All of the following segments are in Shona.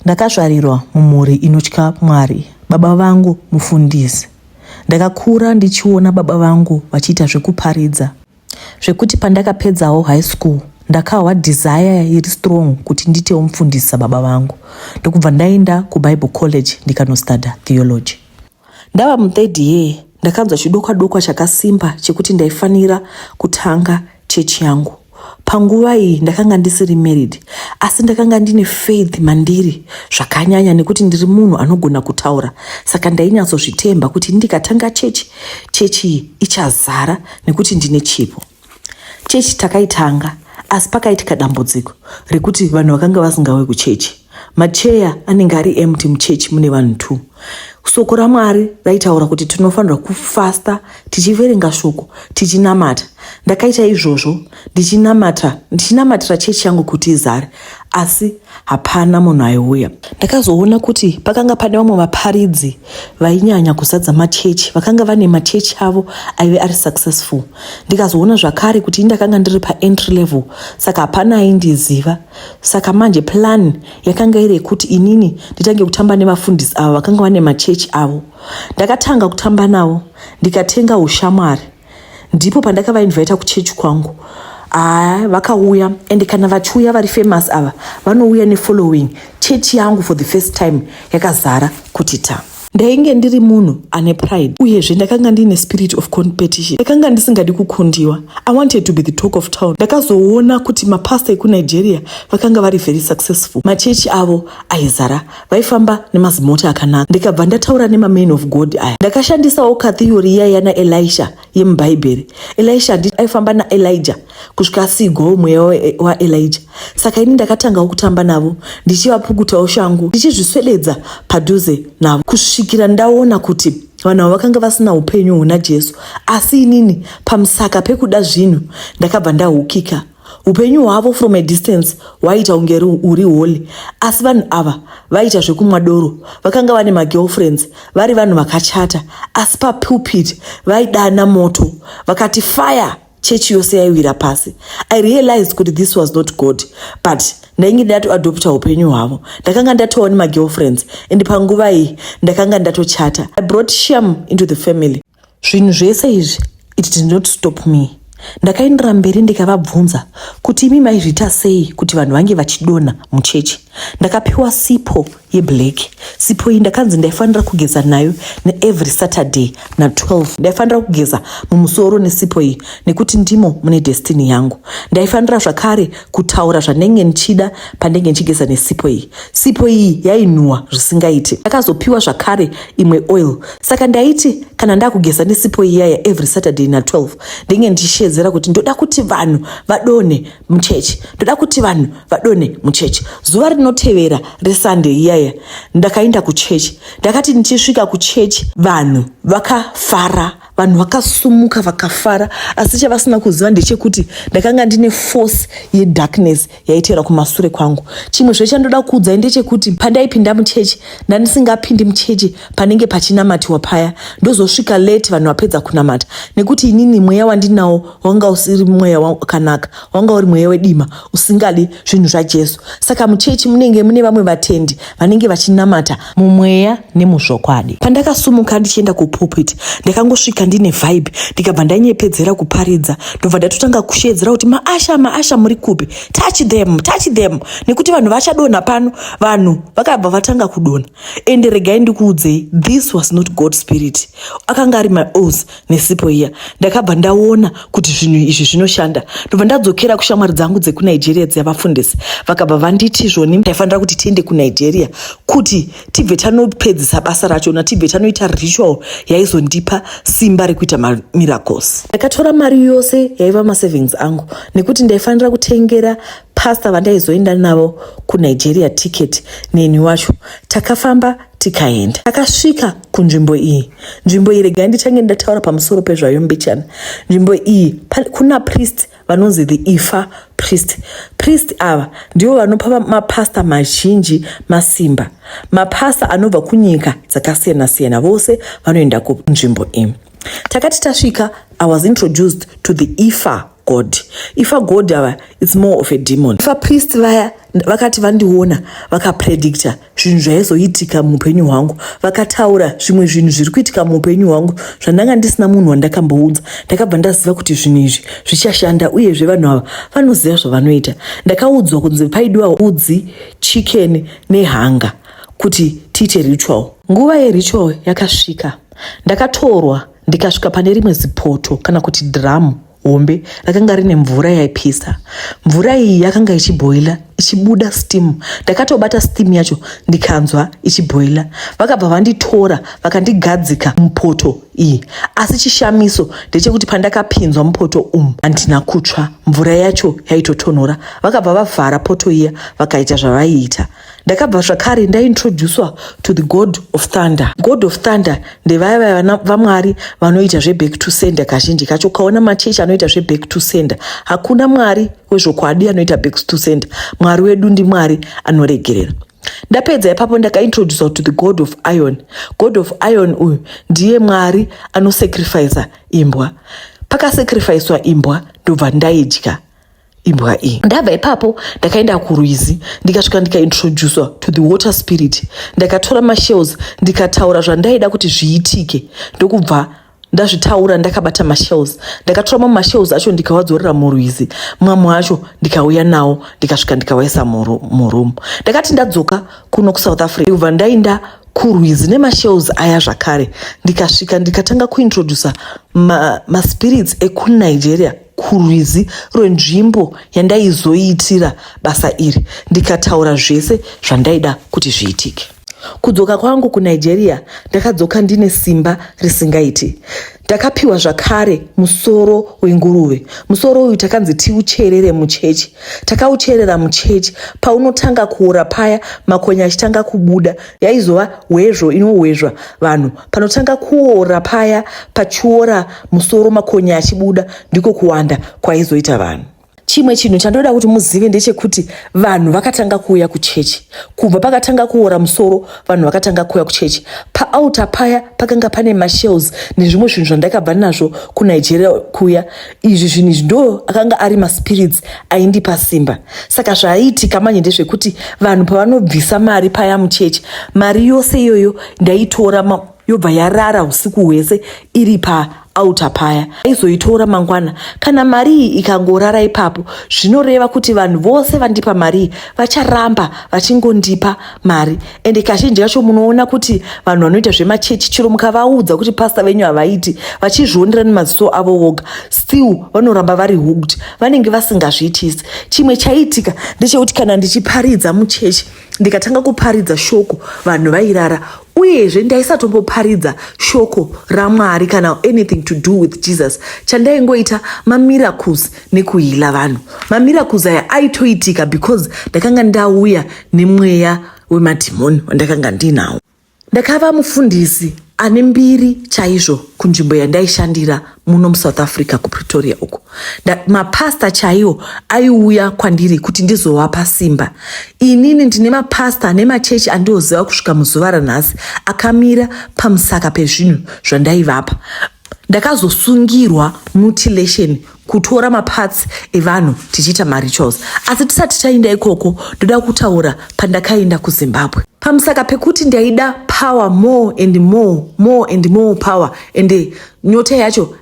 Ndakazvarirwa mumhuri inotya Mwari. Baba vangu mufundisi. Ndakakura ndichiona baba vangu vachiita zvekuparidza zvekuti pandakapedzawo high school ndakahwa desire iri strong kuti nditewo mufundisi sababa vangu ndokubva ndaenda kubible college ndikanostuda theology. Ndava muthird year ndakanzwa chidokwa dokwa chakasimba chekuti ndaifanira kutanga chechi yangu. Panguva iyi ndakanga ndisiri married asi ndakanga ndine faith mandiri zvakanyanya nekuti ndiri munhu anogona kutaura saka ndainyatsozvitemba kuti ndikatanga chechi chechi iyi ichazara nekuti ndine chipo. chechi takaitanga asi pakaitika dambudziko rekuti vanhu vakanga vasingauye kuchechi macheya anenge ari empty muchechi mune vanhu two soko ramwari raitaura kuti tinofanirwa kufasta tichiverenga shoko tichinamata ndakaita izvozvo ndichinamatira chechi yangu kuti izare asi hapana munhu aiuya. Ndakazoona kuti pakanga pane vamwe vaparidzi vainyanya kuzadza machechi vakanga vane machechi avo aive ari successful. Ndikazoona zvakare kuti indakanga ndiri paentry level saka hapana aindiziva. Saka manje plan yakanga iri yekuti inini nditange kutamba nevafundisi avo vakanga vane machechi avo. Ndakatanga kutamba navo ndikatenga ushamwari. ndipo pandakavainvita kuchechi kwangu haa vakauya and kana vachiuya vari famous ava vanouya nefollowing chechi yangu for the first time yakazara kuti ta ndainge ndiri munhu ane pride uyezve ndakanga ndiine spirit of competition ndakanga ndisingadi kukundiwa i wanted to be the talk of town ndakazoona kuti mapasta ekunigeria vakanga vari very successful machechi avo aizara vaifamba nemazimota akanaka ndikabva ndataura nemaman of god aya ndakashandisawo kathiyori iya yana elisha yemubhaibheri elisha ndi aifamba naelija kusvika asiigwawo mweya waelija saka ini ndakatangawo kutamba navo ndichivapukutawo shangu ndichizviswededza padhuze navo kusvikira ndaona kuti vanhu avo vakanga vasina upenyu huna jesu asi inini pamusaka pekuda zvinhu ndakabva ndahukika Upenyu hwavo from a distance hwaiita kunge uri holy asi vanhu ava vaiita zvekumwa doro. Vakanga vane magirlfriends vari vanhu vakachata asi papulpit vaidana moto vakati fire chechi yose yaiwira pasi. I realized kuti this was not God but ndainge ndatoadopta upenyu hwavo. Ndakanga ndatova nemagirlfriends and panguva iyi ndakanga ndatochata. I brought shame into the family. zvinhu zvese izvi it did not stop me ndakaendera mberi ndikavabvunza kuti imi maizviita sei kuti vanhu vange vachidonha muchechi ndakapiwa sipo yeblack sipo iyi ndakanzi ndaifanira kugeza nayo neevery saturday na12 ndaifanira kugeza mumusoro nesipo iyi nekuti ndimo mune destiny yangu ndaifanira zvakare kutaura zvanenge ndichida pandenge ndichigeza nesipo iyi sipo iyi yainhuwa zvisingaiti ndakazopiwa zvakare imwe oil saka ndaiti kana ndakugeza nesipo iyaya every saturday na 12 ndenge ndichishedzera kuti ndoda kuti vanhu vadone muchechi ndoda kuti vanhu vadone muchechi zuva rinotevera resunday iyaya ndakaenda kuchechi ndakati ndichisvika kuchechi vanhu vakafara vanhu vakasumuka vakafara asi chavasina kuziva ndechekuti ndakanga ndine force yedarkness yaiteera kumasure kwangu chimwe zve chandoda kuudzai ndechekuti pandaipinda muchechi ndandisingapindi muchechi panenge pachinamatiwa paya ndozosvika late vanhu vapedza kunamata nekuti inini mweya wandinawo wanga usiri mweya wakanaka wanga uri mweya wedima usingadi zvinhu zvajesu saka muchechi munenge mune vamwe vatendi vanenge vachinamata mumweya nemuzvokwadi pandakasumuka ndichienda kupulpit ndakangosvika ndine vibe ndikabva ndanyepedzera kuparidza ndobva ndatotanga kusheedzera kuti maasha maasha muri kupi touch them touch them nekuti vanhu vachadonha pano vanhu vakabva vatanga kudonha ende regai ndikuudzei this was not god spirit akanga ari maos nesipo iya ndakabva ndaona kuti zvinhu izvi zvinoshanda ndobva ndadzokera kushamwari dzangu dzekunigeria dziya vafundisi vakabva vanditi zvoni ndaifanira kuti tiende kunigeria kuti tibve tanopedzisa basa racho na tibve tanoita ritual yaizondipa simba rekuita mamiracles ndakatora mari yose yaiva masavings angu nekuti ndaifanira kutengera pasta vandaizoenda navo kunigeria ticket neni wacho takafamba tikaenda takasvika kunzvimbo iyi nzvimbo iyi regai ndichange ndataura pamusoro pezvayo mbichana nzvimbo iyi kuna priest vanonzi the ifa priest priest ava ndivo vanopa mapasta mazhinji masimba mapasta anobva kunyika dzakasiyana siyana vose vanoenda kunzvimbo iyi takati tasvika i was introduced to the ifa god if a god ava its more of a demon if a priest vaya vakati vandiona vakapredicta zvinhu zvaizoitika muupenyu hwangu vakataura zvimwe zvinhu zviri kuitika muupenyu hwangu zvandanga ndisina munhu wandakambounza ndakabva ndaziva kuti zvinhu izvi zvichashanda uyezve vanhu ava vanoziva zvavanoita ndakaudzwa kunzi paidiwa udzi chicken nehanga kuti tiite ritual nguva yeritual yakasvika ndakatorwa ndikasvika pane rimwe zipoto kana kuti dhiramu hombe rakanga rine mvura yaipisa mvura iyi yakanga ichibhoila ichibuda steam ndakatobata steam yacho ndikanzwa ichibhoila vakabva vanditora vakandigadzika mupoto iyi asi chishamiso ndechekuti pandakapinzwa mupoto umu handina kutsva mvura yacho yaitotonhora vakabva vavhara poto iya vakaita zvavaiita ndakabva zvakare ndaintroducwa to the god of thunder god of thunder ndevaya vaya vamwari vanoita zveback to sender kazhinji kacho ukaona machechi anoita zveback to sender hakuna mwari wezvokwadi anoita back to sender mwari wedu ndimwari anoregerera ndapedza ipapo ndakaintroducwa to the god of iron god of iron uyu ndiye mwari anosacrifica imbwa pakasacrificwa imbwa ndobva ndaidya imbwa iyi ndabva ipapo ndakaenda kurwizi ndikasvika ndikaintroducwa to the water spirit ndakatora mashells ndikataura zvandaida kuti zviitike ndokubva ndazvitaura ndakabata mashells ndakatora mamwe mashells acho ndikawadzorera murwizi mamwe acho ndikauya nawo ndikasvika ndikawaisa muroom ndakati ndadzoka kuno kusouth africa ndikubva ndainda kurwizi nemashells aya zvakare ndikasvika ndikatanga kuintroducer maspirits ma ekunigeria kurwizi rwenzvimbo yandaizoiitira basa iri ndikataura zvese zvandaida kuti zviitike. Kudzoka kwangu kuNigeria ndakadzoka ndine simba risingaiti. Ndakapiwa zvakare musoro wenguruve. Musoro uyu takanzi tiucherere muchechi. Takaucherera muchechi. Paunotanga kuora paya makonye achitanga kubuda. Yaizova hwezvo inohwezva vanhu. Panotanga kuora paya pachiora musoro makonye achibuda ndiko kuwanda kwaizoita vanhu. Chimwe chinhu chandoda kuti muzive ndechekuti vanhu vakatanga kuuya kuchechi kubva pakatanga kuora musoro. Vanhu vakatanga kuuya kuchechi paauta paya pakanga pane mashells nezvimwe zvinhu zvandakabva nazvo kunigeria kuya izvi zvinhu izvi ndo akanga ari maspirits aindipa simba saka zvaaiitika manje ndezvekuti vanhu pavanobvisa mari paya muchechi mari yose iyoyo ndaitora yobva yarara usiku hwese iri paauta paya aizoitora mangwana kana mari iyi ikangorara ipapo zvinoreva kuti vanhu vose vandipa mari iyi vacharamba vachingondipa mari ende kazhinji kacho munoona kuti vanhu vanoita zvemachechi chero mukavaudza kuti pasta venyu havaiti vachizvionera nemaziso avo voga still vanoramba vari hooked vanenge vasingazviitisi chimwe chaiitika ndechekuti kana ndichiparidza muchechi ndikatanga kuparidza shoko vanhu vairara uyezve ndaisatomboparidza shoko ramwari kana anything to do with jesus chandaingoita mamiracles nekuhila vanhu mamiracles aya aitoitika because ndakanga ndauya nemweya wemadhimoni wandakanga ndinawo ndakava mufundisi ane mbiri chaizvo kunzvimbo yandaishandira muno musouth africa kupretoria uko mapasta chaiwo aiuya kwandiri kuti ndizovapa simba inini ndine mapasta ane machechi andioziva kusvika muzuva ranhasi akamira pamusaka pezvinhu zvandaivapa ndakazosungirwa mutilation kutora maparts evanhu tichiita marituals asi tisati tainda ikoko ndoda kutaura pandakainda kuzimbabwe pamusaka pekuti ndaida power more and more more and more power and nyota yacho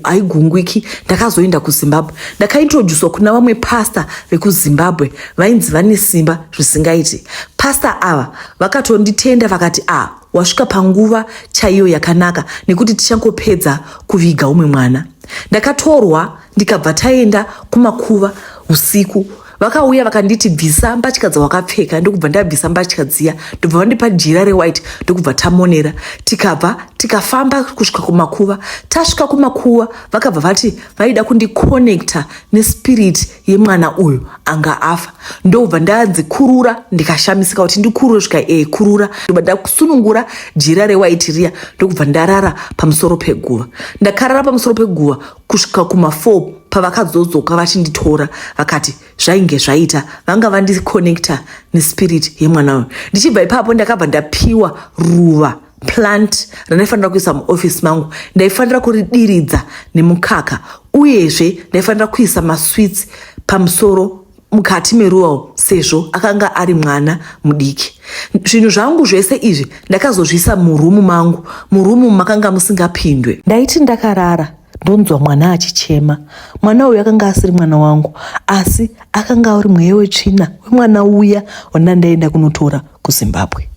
haigungwiki ndakazoenda kuzimbabwe ndakaintroduswa kuna vamwe pasta vekuzimbabwe vainzi vane simba zvisingaiti pasta ava vakatonditenda vakati a ah, wasvika panguva chaiyo yakanaka nekuti tichangopedza kuviga umwe mwana ndakatorwa ndikabva taenda kumakuva usiku vakauya vakanditi bvisa mbatya dzawakapfeka ndokubva ndabvisa mbatya dziya ndobva vandipa jira rewhite ndokubva tamonera tikabva tikafamba kusvika kumakuva tasvika kumakuva vakabva vati vaida kundiconnecta nespirit yemwana uyu anga afa ndobva ndanzi kurura ndikashamisika kuti ndikurure svika e kurura ndobva ndakusunungura jira rewaiti riya ndokubva ndarara pamusoro peguva ndakarara pamusoro peguva kusvika kuma4 pavakazodzoka vachinditora vakati zvainge zvaita vanga vandikonekta nespirit yemwana uyu ndichibva ipapo ndakabva ndapiwa ruva plant randaifanira kuisa muoffice mangu ndaifanira kuridiridza nemukaka uyezve ndaifanira kuisa masweets pamusoro mukati meruwao sezvo akanga ari mwana mudiki zvinhu zvangu zvese izvi ndakazozviisa murumu mangu murumu makanga musingapindwe ndaiti ndakarara ndonzwa mwana achichema mwana uyu akanga asiri mwana wangu asi akanga ari mweya wetsvina wemwana uya wandandaenda kunotora kuzimbabwe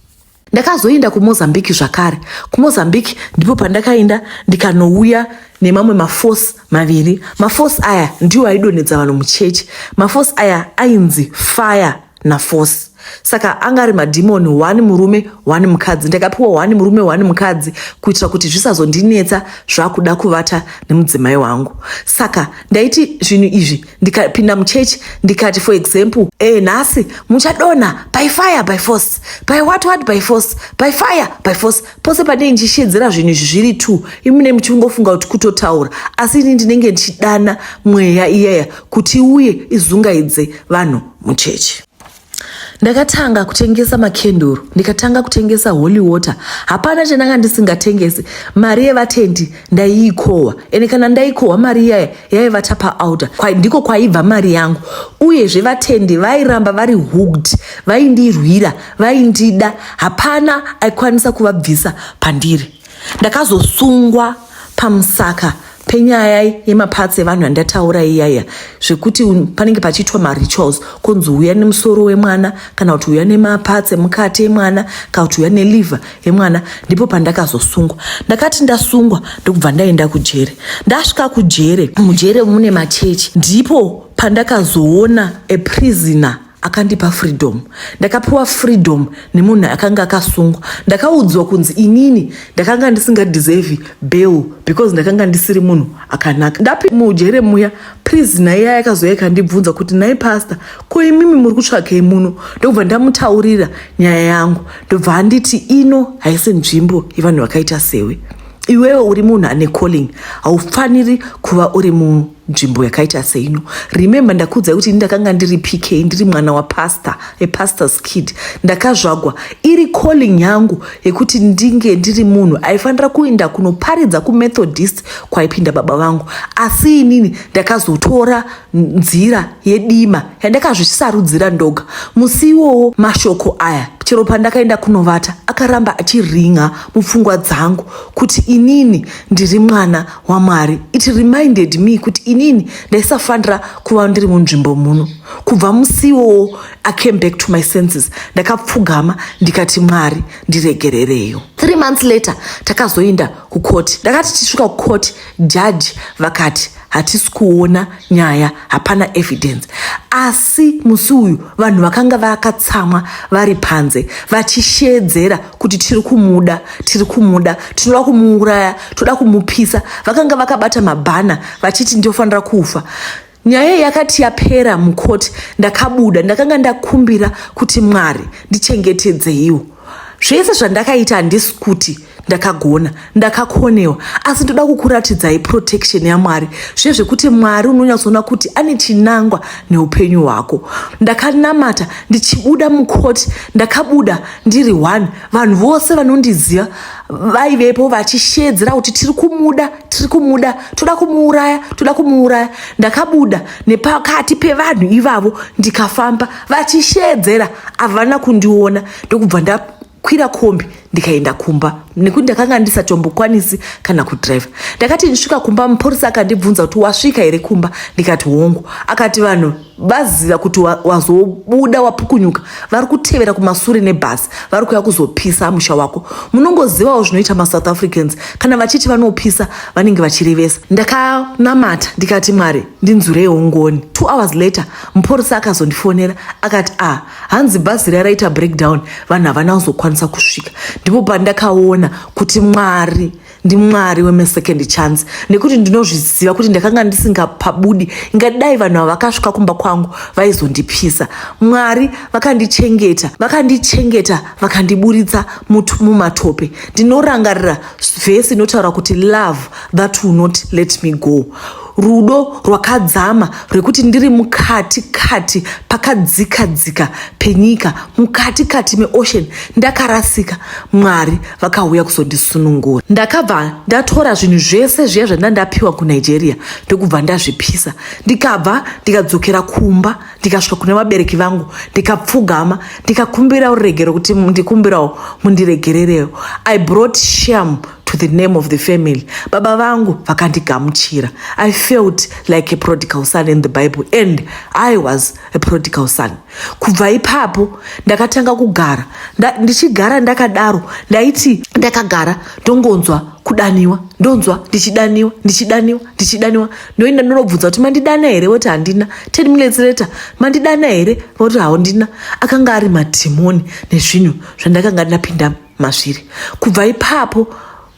ndakazoenda kumozambique zvakare kumozambique ndipo pandakaenda ndikanouya nemamwe maforce maviri maforce aya ndiwo aidonhedza vanhu muchechi maforce aya ainzi fire naforce saka anga ari madhimoni one murume one mukadzi ndakapiwa one murume one mukadzi kuitira kuti zvisazondinetsa zvakuda kuvata nemudzimai wangu saka ndaiti zvinhu izvi ndikapinda muchechi ndikati for example e nhasi muchadonha by fire by force by what what by force by fire by force pose pandinenge ndichishedzera zvinhu izvi zviri two imune muchingofunga kuti kutotaura asi ini ndinenge ndichidana mweya iyaya kuti iuye izungaidze vanhu muchechi ndakatanga kutengesa makenduru ndikatanga kutengesa holy water hapana chandanga ndisingatengesi mari yevatendi ndaiikohwa ende kana ndaikohwa mari iyaya yaiva tapa outer kwa, ndiko kwaibva mari yangu uyezve vatendi vairamba vari hooked vaindirwira vaindida hapana aikwanisa kuvabvisa pandiri ndakazosungwa pamusaka penyaya yemapatsi evanhu yandataura iyaya zvekuti panenge pachiitwa marituals kunzi uya nemusoro wemwana kana kuti uya nemapatsi emukati emwana kana kuti uya neliver yemwana ndipo pandakazosungwa ndakati ndasungwa ndokubva ndaenda kujere ndasvika kujere mujere mune machechi ndipo pandakazoona a prisoner akandipa freedom ndakapiwa freedom nemunhu akanga akasungwa ndakaudzwa kunzi inini ndakanga ndisingadeserve bail because ndakanga ndisiri munhu akanaka ndapi mujere muya please naye yaya yakazouya ikandibvunza kuti naye pastor ko imimi muri kutsvakei muno ndokubva ndamutaurira nyaya yangu ndobva anditi ino haisi nzvimbo yevanhu vakaita sewe iwewe uri munhu ane calling haufaniri kuva uri munhu nzvimbo yakaita seino remember ndakuudzai kuti ini ndakanga ndiri pk ndiri mwana wapastor apastor's kid ndakazvagwa iri calling yangu yekuti ndinge ndiri munhu aifanira kuenda kunoparidza kumethodist kwaipinda baba vangu asi inini ndakazotora nzira yedima yandakazvisarudzira ndoga musi iwowo mashoko aya chero pandakaenda kunovata akaramba achiringa mupfungwa dzangu kuti inini ndiri mwana wamwari it reminded me kuti inini ndaisafanira kuva ndiri munzvimbo muno kubva musiwowo i came back to my senses ndakapfugama ndikati mwari ndiregerereyo three months later takazoinda kukoti ndakati tichisvika kukoti jaji vakati hatisi kuona nyaya hapana evidence asi musi uyu vanhu vakanga vakatsamwa vari panze vachishedzera kuti tiri kumuda tiri kumuda tinoda kumuuraya toda kumupisa vakanga vakabata mabhana vachiti ndofanira kufa nyaya yakati yapera mukoti ndakabuda ndakanga ndakumbira kuti mwari ndichengetedzeiwo zvese zvandakaita handisi kuti ndakagona ndakakonewa asi ndoda kukuratidzai protection yamwari zviye zvekuti mwari unonyatsoona kuti ane chinangwa neupenyu hwako ndakanamata ndichibuda mukoti ndakabuda ndiri one vanhu vose vanondiziva vaivepo vachishedzera kuti tiri kumuda tiri kumuda toda kumuuraya toda kumuuraya ndakabuda nepakati pevanhu ivavo ndikafamba vachishedzera havana kundiona ndokubva nda kwira kombi ndikaenda kumba nekuti ndakanga ndisatombokwanisi kana kudriver ndakati ndisvika kumba mupurisa akandibvunza kuti wasvika here kumba ndikati hongu akati vanhu vaziva kuti wazobuda wa wapukunyuka vari kutevera kumasure nebhasi vari kuya kuzopisa musha wako munongozivawo zvinoita masouth africans kana vachiti vanopisa vanenge vachirevesa ndakanamata ndikati mwari ndinzurei ongoni two hours later mupurisa akazondifonera akati a ah, hanzi bhazi riya raita breakdown vanhu havana kuzokwanisa kusvika ndipo pandakaona kuti mwari ndimwari wemesecond chance nekuti ndinozviziva kuti ndakanga ndisingapabudi ingadai vanhu ava vakasvika kumba kwangu vaizondipisa mwari vakandichengeta vakandichengeta vakandiburitsa mutu mumatope ndinorangarira vhesi inotaura kuti love that will not let me go rudo rwakadzama rwekuti ndiri mukati kati pakadzika dzika penyika mukati kati meocean ndakarasika mwari vakauya kuzondisunungura ndakabva ndatora zvinhu zvese zviya zvandina ndapiwa kunigeria ndokubva ndazvipisa ndikabva ndikadzokera kumba ndikasvika kune vabereki vangu ndikapfugama ndikakumbirawo ruregero kuti ndikumbirawo mundiregererewo i brought shame to the name of the family baba vangu vakandigamuchira i felt like a prodigal son in the bible and i was a prodigal son kubva ipapo ndakatanga kugara ndichigara ndakadaro ndaiti ndakagara ndongonzwa kudaniwa ndonzwa ndichidaniwa ndichidaniwa ndichidaniwa ndoenda ndonobvunza kuti mandidana here voti handina ten minutes later mandidana here voti haundina akanga ari madhimoni nezvinhu zvandakanga ndapindamo masviri kubva ipapo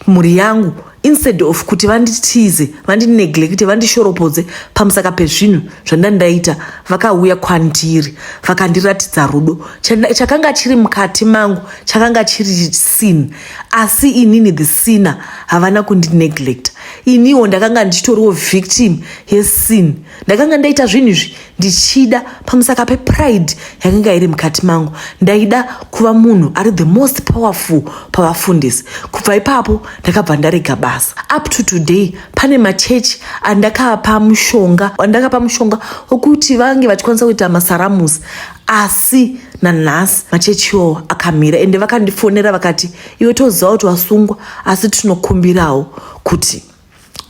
mhuri yangu instead of kuti vanditize vandineglekte vandishoropodze pamusaka pezvinhu zvandandaita vakauya kwandiri vakandiratidza rudo chakanga chiri mukati mangu chakanga chiri sin asi inini the sinner havana kundineglekta iniwo ndakanga ndichitoriwo victim yesin ndakanga ndaita zvinhu izvi ndichida pamusaka pepride yakanga iri mukati mangu ndaida kuva munhu ari the most powerful pavafundisi kubva ipapo ndakabva ndarega basa up to today pane machechi andakapa mushonga andakapa mushonga wekuti vange vachikwanisa kuita masaramusi asi nanhasi machechi iwawo akamira ende vakandifonera vakati iwe toziva kuti wasungwa asi tinokumbirawo kuti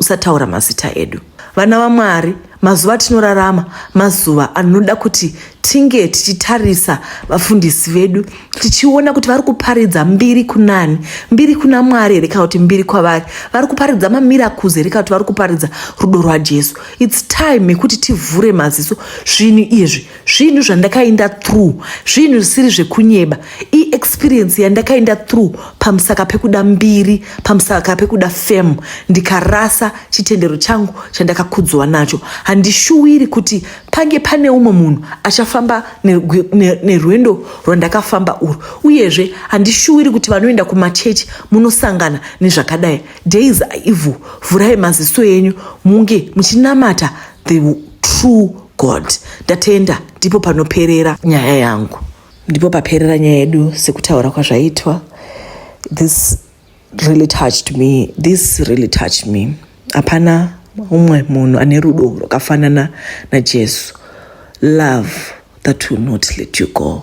usataura mazita edu vana vamwari mazuva atinorarama mazuva anoda kuti tinge tichitarisa vafundisi vedu tichiona kuti vari kuparidza mbiri kunani mbiri kuna mwari here kana kuti mbiri kwavari vari kuparidza mamiracles here kana kuti vari kuparidza rudo rwajesu its time yekuti tivhure maziso zvinhu izvi zvinhu zvandakainda through zvinhu zvisiri zvekunyeba iexperience yandakainda through pamusaka pekuda mbiri pamusaka pekuda fam ndikarasa chitendero changu chandakakudzwa nacho handishuwiri kuti pange pane umwe munhu achafamba nerwendo ne, ne rwandakafamba urwu uyezve handishuwiri kuti vanoenda kumachechi munosangana nezvakadai days aivo vhurai maziso enyu munge muchinamata the true God ndatenda ndipo panoperera nyaya yangu ndipo paperera nyaya yedu sekutaura kwazvaitwa this really touched me this really touched me hapana umwe munhu ane rudo rwakafanana najesu love that will not let you go